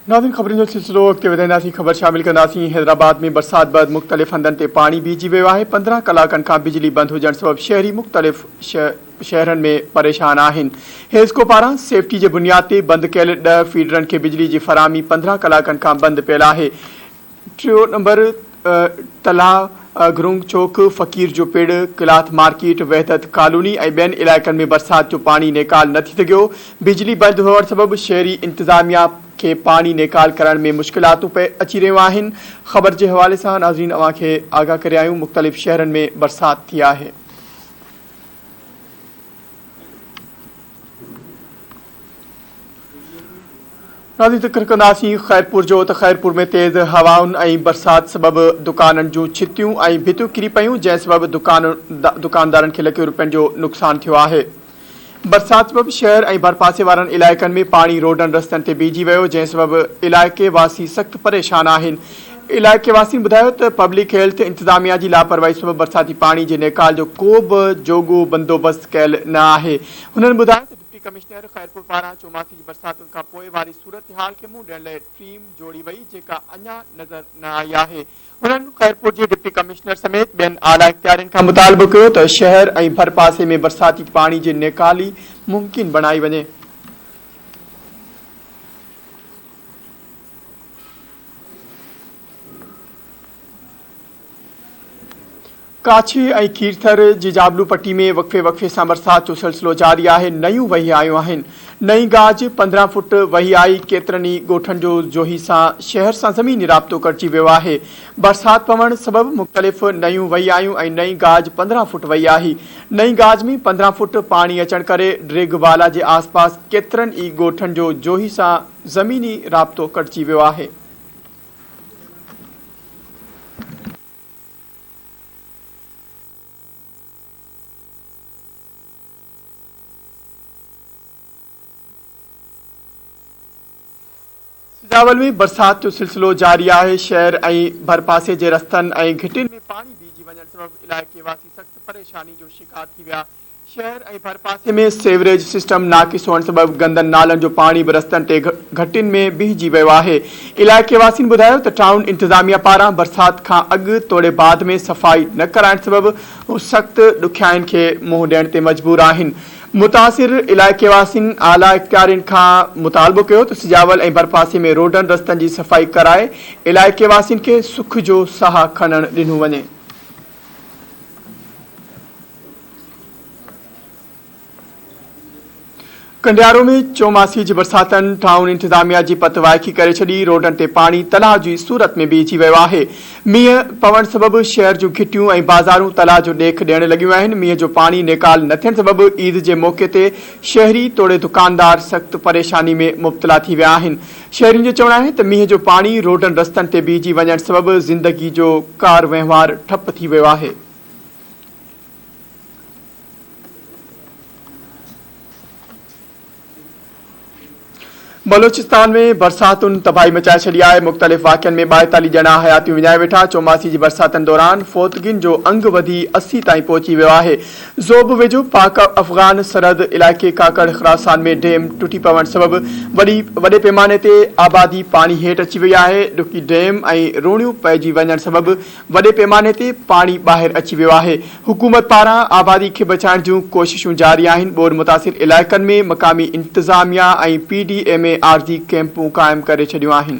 ناظرين خبرن جو سلسلو اڳتي وڌائينداسين خبر شامل ڪنداسين حيدرآباد ۾ برسات بعد مختلف هنڌن تي پاڻي بيهجي ويو آهي پندرهن ڪلاڪن کان بجلي بند هجڻ سبب شهري مختلف شهرن ۾ پريشان آهن حيسڪو پاران سيفٽي جي بنياد تي بند ڪيل ڏهه فيڊرن کي بجلي جي فراهمي پندرهن ڪلاڪن کان بند پيل آهي ٽيون نمبر تلاء، گرونگ چوڪ، فقير جو پڙ، ڪلاٿ مارڪيٽ، وحدت ڪالوني ۽ ٻين علائقن ۾ برسات جو پاڻي نيڪال نه ٿي سگهيو، بجلي بند هئڻ سبب شهري انتظاميا کي پاڻي نيڪال ڪرڻ ۾ مشڪلاتون پئي اچي رهيون آهن. خبر جي حوالي سان ناظرين اوهان کي آگاهه ڪري آهيون مختلف شهرن ۾ برسات ٿي آهي. ناظرين ذڪر ڪنداسين خيرپور جو ته خيرپور ۾ تيز هوائن ۽ برسات سبب دڪانن جون ڇتيون ۽ ڀتيون ڪري پيون جنهن سبب دڪاندارن کي لکين روپين جو نقصان ٿيو آهي برسات سبب شهر ۽ ڀرپاسي وارن علائقن ۾ پاڻي روڊن رستن تي بيهجي ويو جنهن سبب علائقي واسي سخت پريشان آهن علائقي واسين ٻڌايو ته پبلڪ هيلٿ انتظاميا جي لاپرواهي سبب برساتي پاڻي جي نيڪال جو ڪو به جوڳو بندوبست ڪيل نه آهي. هنن ٻڌايو ته ڊپٽي ڪمشنر خيرپور پاران چوماسي جي برساتن کان پوء واري صورتحال کي منهن ڏيڻ لئي ٽيم جوڙي وئي جيڪا اڃا نظر نه آئي آهي. هنن خيرپور جي ڊپٽي ڪمشنر سميت ٻين اعليٰ اختيارين کان مطالبو ڪيو ته شهر ۽ ڀرپاسي ۾ برساتي پاڻي جي نيڪالي ممڪن بڻائي وڃي. ڪاڇي ۽ کيرٿر جي جابلو پٽي ۾ وقفي وقفي سان برسات جو سلسلو جاري آهي نئيون وهي آيون آهن نئين گاج پندرهن فٽ وهي آئي ڪيترن ئي ڳوٺن جو جوهي سان شهر سان زميني رابطو ڪٽجي ويو آهي برسات پوڻ سبب مختلف نئيون وهي آيون ۽ نئين گاج پندرهن فٽ وهي آهي نئين گاج ۾ پندرهن فٽ پاڻي اچڻ ڪري ڊريگ والا جي آس پاس ڪيترن ئي ڳوٺن جو جوهي سان زميني رابطو ڪٽجي ويو آهي. سجاول ۾ برسات جو سلسلو جاري آهي، شهر ۽ ڀرپاسي جي رستن ۽ گهٽين ۾ پاڻي بيهجي وڃڻ سبب علائقي واسي سخت پريشاني جو شڪار ٿي ويا، شهر ۽ ڀرپاسي ۾ سيوريج سسٽم ناقص هئڻ سبب گندن نالن جو پاڻي به رستن تي گهٽين ۾ بيهجي ويو آهي. علائقي واسين ٻڌايو ته ٽائون انتظاميا پاران برسات کان اڳ توڙي بعد ۾ صفائي نه ڪرائڻ سبب هو سخت ڏکيائين کي منهن ڏيڻ تي مجبور آهن. متاثر علائقي واسين اعليٰ اختيارين کان مطالبو ڪيو ته سجاول ۽ ڀرپاسي ۾ روڊن رستن جي صفائي ڪرائي علائقي واسين کي سک جو ساهه کڻڻ ڏنو وڃي. ڪنڊيارو ۾ چوماسي جي برساتن ٽائون انتظاميا جي پت وائکي ڪري ڇڏي، روڊن تي پاڻي تلاء جي صورت ۾ بيهجي ويو آهي، مينهن پوڻ سبب شهر جون گهٽيون ۽ بازارون تلاء جو ڏيک ڏيڻ لڳيون آهن، مينهن جو پاڻي نيڪال نه ٿيڻ سبب عيد جي موقعي تي شهري توڙي دڪاندار سخت پريشاني ۾ مبتلا ٿي ويا آهن، شهرين جو چوڻ آهي ته مينهن جو پاڻي روڊن رستن تي بيهجي وڃڻ سبب زندگي جو ڪاروهنوار ٺپ ٿي ويو آهي. بلوچستان ۾ برساتن تباهي مچائي ڇڏي آهي مختلف واقعن ۾ ٻائيتاليهه ڄڻا حياتيون وڃائي ويٺا چوماسي جي برساتن دوران فوتگين جو انگ وڌي اسي تائين پهچي ويو آهي زوب ويجهو پاڪ افغان سرحد علائقي ڪاڪڙ خراسان ۾ ڊيم ٽٽي پوڻ سبب وڏي وڏي پيماني تي آبادي پاڻي هيٺ اچي وئي آهي ڏکي ڊيم ۽ روڻيون پئجي وڃڻ سبب وڏي پيماني تي پاڻي ٻاهر اچي ويو آهي، حڪومت پاران آبادي کي بچائڻ جون ڪوششون جاري آهن، ٻوڏ متاثر علائقن ۾ مقامي انتظاميا ۽ پي ڊي ايم اي عارضي ڪئمپون قائم ڪري ڇڏيون آهن.